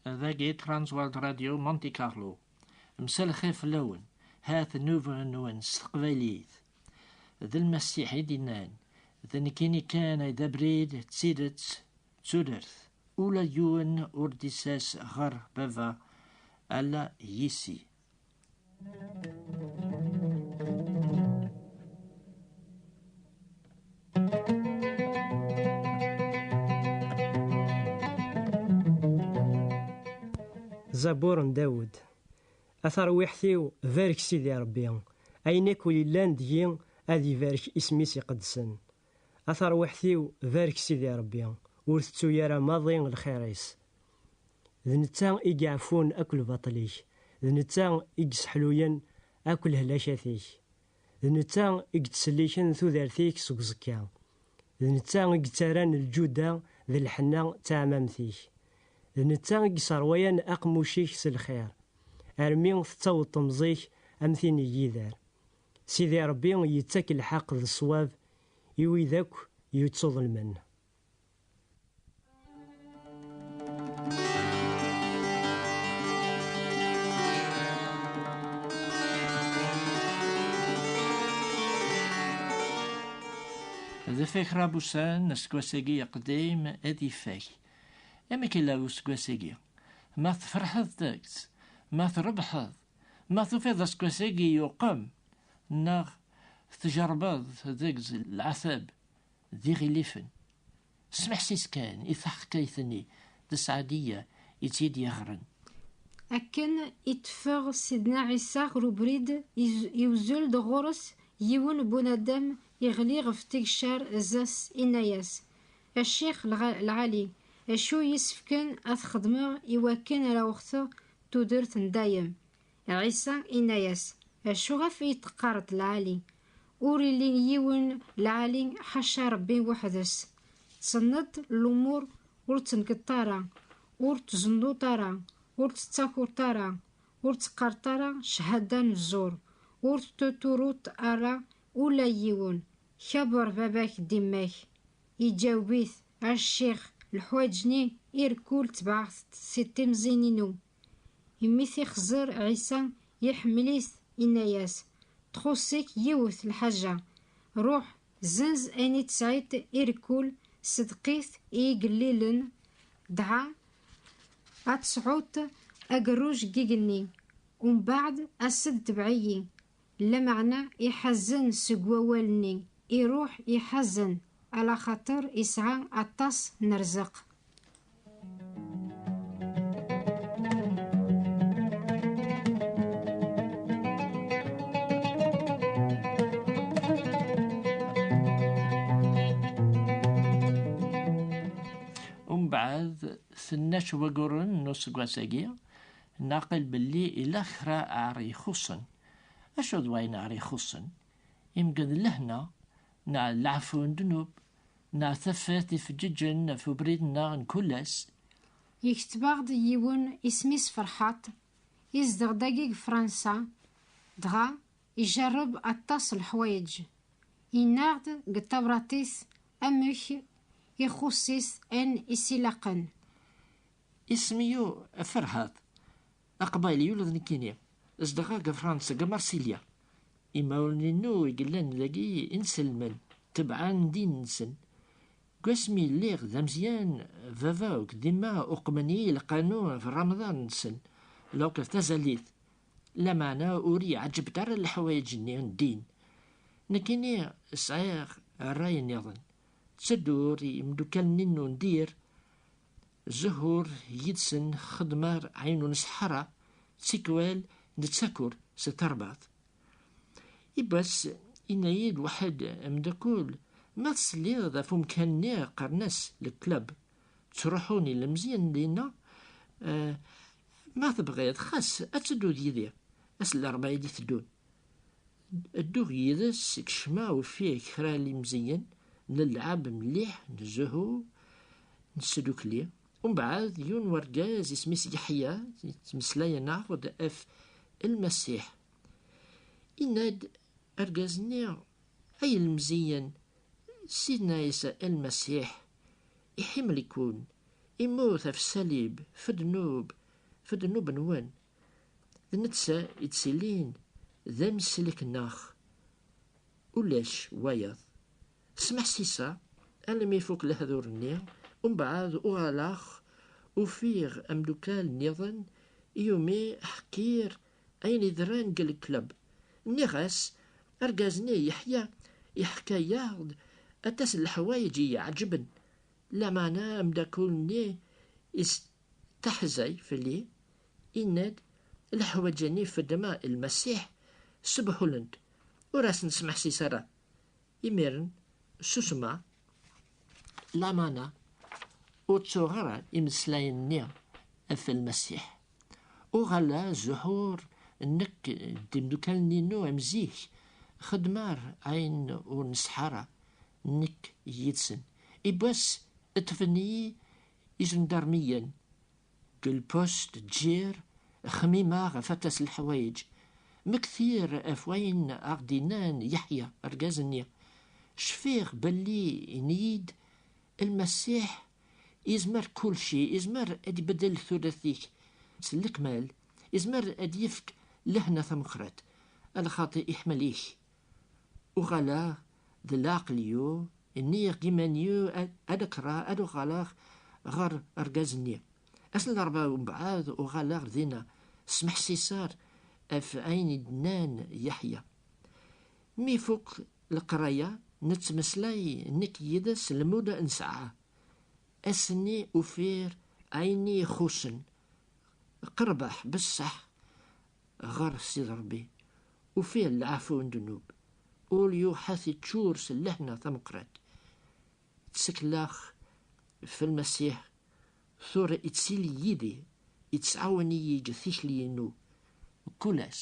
Dagi Transworld Radio Monte Carlo. Msalxir fell-awen. Hat nnuba-nwen s teqbaylit. D lmasiḥ i d-innan. D nekkini kan ay d abrid d tidet d tudert. Ula d yiwen ur d-isas ɣer baba ala yis-i. Zabur n Dawed. A tarwiḥt-iw, barek Sidi Ṛebbi, ayen akk yellan deg-i ad ibarek isem-is iqedsen. A tarwiḥt-iw barek Sidi Ṛebbi, ur tettu ara maḍi lxir-is. D netta i yeɛfun akk lbaṭel-ik, d netta i yesseḥluyen akk lehlakat-ik, d netta i yettselliken tudert-ik seg uẓekka, d netta i yettarran lǧuda d lḥenna d taɛmamt-ik, d netta i yesserwayan aqemmuc-ik s lxir, armi tettaweḍ temẓi-k am tin n yider. Sidi Ṛebbi yettak lḥeq d ṣṣwab i wid akk yuttuḍelmen. D ifakraḍ wussan, aseggas-agi aqdim ad ifak. Amek yella useggas-agi? Ma tferḥeḍ deg-s, ma trebḥeḍ, Ma tufiḍ aseggas-agi yuqem, neɣ tjerbeḍ deg lɛatab d iɣilifen, smeḥsis kan i taḥkayt-nni d Seɛdiya i tt-id-yeɣren. Akken i d-teffeɣ Sidna Ɛisa ɣer ubrid, iwzul-d ɣur-s yiwen n bunadam iɣli ɣef tigcar zdat-s, inna-yas, A Ccix lɛali, acu i yi-ssefken ad t-xedmeɣ i wakken ara wexteɣ Tudert n dayem. Ɛisa inna-yas, Acuɣef i yi-teqqareḍ lɛali? Ur illi yiwen lɛali ḥaca Rebbi weḥd-s. Tsenneḍ lumur ur ttenkeḍt ara, ur tzennuḍ ara, ur tettakuḍt ara, ur teqqareḍt ara cchada n zzur, ur teturuḍt ara ula i yiwen, kaber baba-k d imma-k. Iǧaweb-it, A ccix, leḥwaǧ-nni i rkul ttbaɛeɣ-t-d si timẓin-inu. Imi t-ixẓer Ɛisa, iḥemmel-it, inna-yas, Txuṣ-ik yiwet lḥaǧa, ruḥ, zenz ayen i tesɛiḍ i rkul, sedeq-it i yigellilen, dɣa ad tesɛuḍ agerruj n yigenni, umbeɛd as-d tebɛ-iyi. Lameɛna iḥazen seg wawal-nni, iruḥ iḥazen, alaxaṭer isɛa aṭas n rrzeq. Umbeɛd, tenna-tt wayyuren n useggas-agi, Naqel belli ila kra ar ixuṣṣen. Acu d wayen ar ixuṣṣen? Imgen d lehna, neɣ d leɛfu n ddnub, neɣ tafat ifeǧǧeǧen ɣef ubrid-nneɣ n kul ass. Yekteb-aɣ-d yiwen isem-is Ferḥaṭ, izdeɣ dagi deg Fransa, dɣa ijerreb aṭas n leḥwayeǧ. Yenna-aɣ-d deg tabrat-is amek ixuṣṣ-it ayen i s-ilaqen. Isem-iw Ferhat, d aqbayli ula d nekkini. Zedɣeɣ deg Fransa, deg Marsilya. Imawlan-inu i yellan dagi i nselmen, tebɛen ddin-nsen. Deg wasmi i lliɣ d ameẓyan, baba akked yemma uqmen-iyi lqanun ɣef Ramaḍan-nsen, donc ɣef tazalit. Lameɛna ur iyi-ɛǧibent ara leḥwayeǧ-nni n ddin. Nekkini sɛiɣ rray-nniḍen. Ttedduɣ ɣer yimeddukal-nni n undir, Zuhur yid-sen xedmer ayen ur nesḥara, tikwal nettakur s tarbaḍt. Ibbas yenna-yi-d waḥed ameddakel, ma tesliḍ ɣef umkan-nni qqaren-as le club, ttruḥun ilemẓiyen dinna, eh, ma tebɣiḍ xas ad tedduḍ yid-i, ass n larebɛa i d-iteddun. Dduɣ yid-s, kecmeɣ ufiɣ kra n lemziyen, nellɛab mliḥ, nzuhu, nesdukli. Umbeɛd yiwen n urgaz isem-is Yeḥya yettmeslayen-aɣ-d ɣef Lmasiḥ. Yenna-d urgaz-nni, Ay ilemziyen, Sidna Ɛisa Lmasiḥ iḥimel-iken, immut ɣef ṣṣalib f'dnub, f'dnub-nwen, D netta i d-ttilin d ameslek neɣ ulac wayeḍ. Smeḥsiseɣ almi ifuk lehdur-nni, umbeɛd uɣaleɣ ufiɣ amdukal nniḍen iumi ḥkiɣ ayen yedran deg lklub. Nniɣ-as, Argaz-nni Yeḥya iḥka-yaɣ-d aṭas n leḥwayeǧ i y-iɛeǧben, lameɛna ameddakel-nni Taḥzay fell-i, yenna-d, Leḥwaǧ-nni i feddmeɣ i Lmasiḥ sbuḥulent, ur asen-smeḥsis ara. Imiren susmeɣ, lamana ur ttuɣ ara imeslayen-nni ɣef Lmasiḥ. Uɣaleɣ zuḥuɣ nekk d imdukal-inu am zik, xeddmeɣ ayen ur nesɛi ara nekk yid-sen. Yiwwas ṭṭfen-iyi Ijendarmiyen deg lpust d jir xmimeɣ ɣef aṭas n leḥwayeǧ. Mmektir ɣef wayen aɣ-d-yennan Yeḥya, argaz-nni. Cfiɣ belli yenn-iyi-d, Lmasiḥ yezmer kulci, yezmer ad ibeddel tudert-ik s lekmal, yezmer ad d-yefk lehna tameqqrat, a lxaṭi iḥemmel-ik. Uɣaleɣ d leɛqel-iw, nniɣ d iman-iw ad d-kkreɣ ad uɣaleɣ ɣer rgaz-nni. Ass n larebɛa umbeɛd uɣaleɣ dinna, ssmeḥ Sisar ɣef ayen i d-nnan Yeḥya. Mi ifuk leqraya, nettmeslay nekk yid-s lmud nesɛa. Ass-nni ufiɣ ayen i ixuṣṣen, qerbeɣ besseḥ ɣer Sidi Rebbi, ufiɣ leɛfu n ddnub, ul yuḥat iččur s lehna tameqqrat. Tteklaɣ f Lmasiḥ, tura ittili yid-i, ittɛawan-iyi g tikli-inu n kul ass.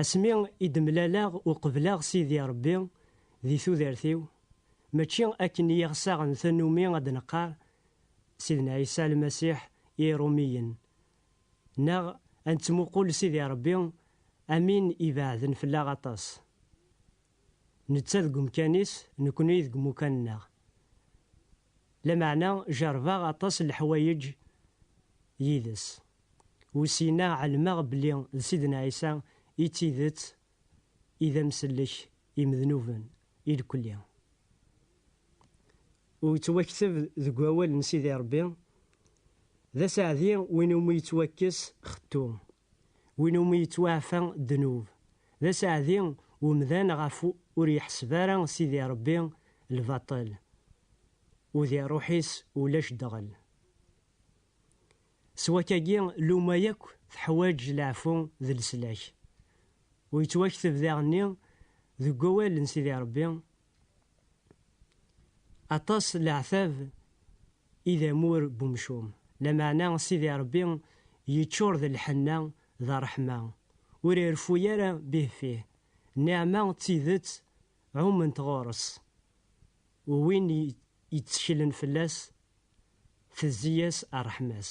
Asmi i d-mlaleɣ u qebleɣ Sidi Rebbi di tudert-iw, mačči akken i aɣ-saɣen tannumi ad d-neqqar Sidna Ɛisa Lmasiḥ i Iṛumiyen, neɣ ad nettmuqul Sidi Rebbi am win ibeɛden fell-aɣ aṭas. Netta deg umkan-is, nekkni deg umukan-nneɣ. Lameɛna jerbeɣ aṭas n leḥwayeǧ yid-s, usineɣ ɛelmeɣ belli d Sidna Ɛisa i d tidet i d amsellek i mednuben i lekli. U yettwakteb deg wawal n Sidi Rebbi, D aseɛdi win umi yettwakkes xettu, Win umi yettwaɛfa ddnub, d aseɛdi umdan ɣef ur yeḥseb ara Sidi Ṛebbi lbaṭel, u di ṛṛuḥ-is ulac ddɣel. S wakagi, lluma yakk teḥwaǧ leɛfu d leslak. U yettwakteb daɣenni deg wawal n Sidi Ṛebbi, Aṭas n leɛtab i d amur n umcum, lameɛna Sidi Ṛebbi yeččur d lḥenna d ṛṛeḥma, ur ireffu ara bihfih, nniɛma d tidet ɛument ɣur-s, u win yetteklen fell-as tezzi-yas ṛṛeḥma-s.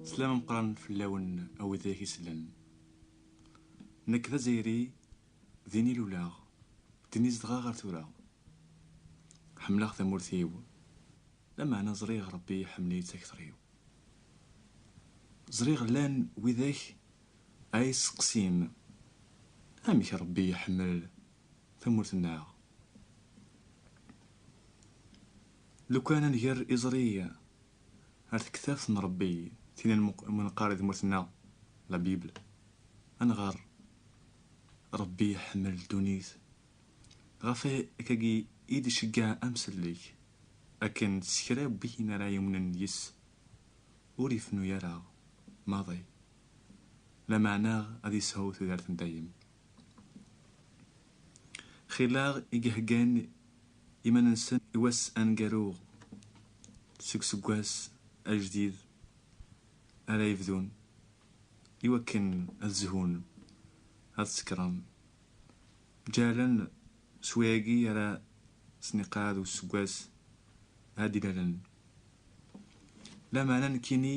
Slam ameqqran fell-awen a widak i sellen. Nekk d azzayri, din i luleɣ, din i zedɣeɣ ar tura. Ḥemmleɣ tamurt-iw, lameɛna ẓriɣ Rebbi iḥemmel-iyi d takter-iw. Ẓriɣ llan widak ara yi-sseqsin amek Rebbi iḥemmel tamurt-nneɣ. Lukan ad nger iẓri Ar tektabt n Ṛebbi tin n mneqqar di tmurt-nneɣ, la Bible, ad nɣer, Ṛebbi iḥemmel ddunit, ɣef wakagi i d-iceggeɛ amsellek, akken s kra n win ara yumnen yis-s, ur ifennu ara maḍi, lameɛna ad yesɛu tudert n dayem. Xileɣ i yeheggan iman-nsen i wass aneggaru seg useggas ajdid ara yebdun i wakken ad zhun, ad sekren, ǧǧehlen s wayagi ara sen-iqeɛɛed useggas ara d-ilalen. Lameɛna nekkini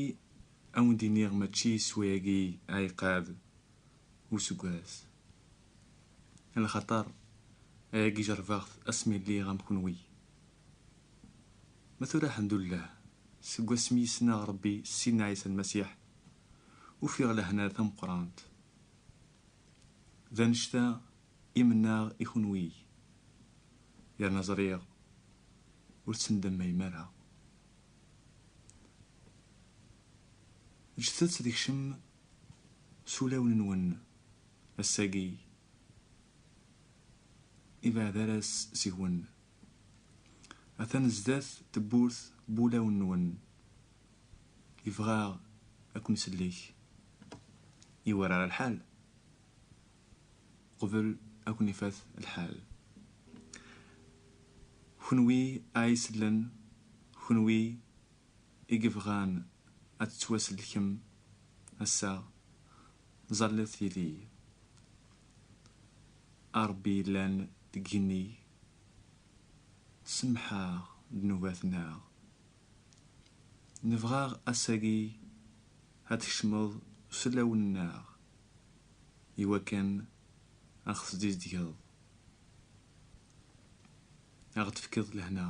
ad wen-d-iniɣ mačči s wayagi ara iqeɛɛed. useggas lxaṭer ayagi jerbeɣ-t asmi lliɣ am kunwi ma tura ḥemdullah seg wasmi yesneɣ Rebbi Sidna Ɛisa Lmasiḥ ufiɣ lehna tameqqrant d anect-a i mennaɣ i kunwi yerna ẓriɣ ur ttendammayem ara Ǧǧet-tt ad kcem s ulawen-nwen ass-agi ibeɛd ara seg-wen. Atan zdat tewwurt n wulawen-nwen, yebɣa ad ken-isellek. Iwerrar lḥal qbel ad ken-ifat lḥal. Kenwi a isellen, kenwi. i yebɣan ad tettwasellkem ass-a, ẓallet yid-i. A Ṛebbi yellan deg yigenni-k, semmeḥ-aɣ ddnubat-nneɣ. Nebɣa ass-agi ad tkecmeḍ s ulawen-nneɣ, i wakken a ɣ-tesdizdgeḍ, a ɣ-d-tefkeḍ lehna.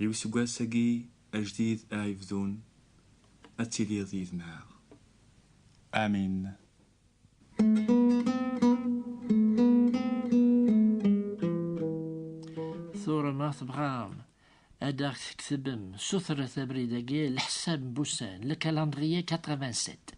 I useggas-agi ajdid a ibdun, ad tiliḍ yid-neɣ. Amin. Tura ma tebɣam ad aɣ-tketbem, sutret abrid-agi, leḥsab n wussan, le calendrier 87.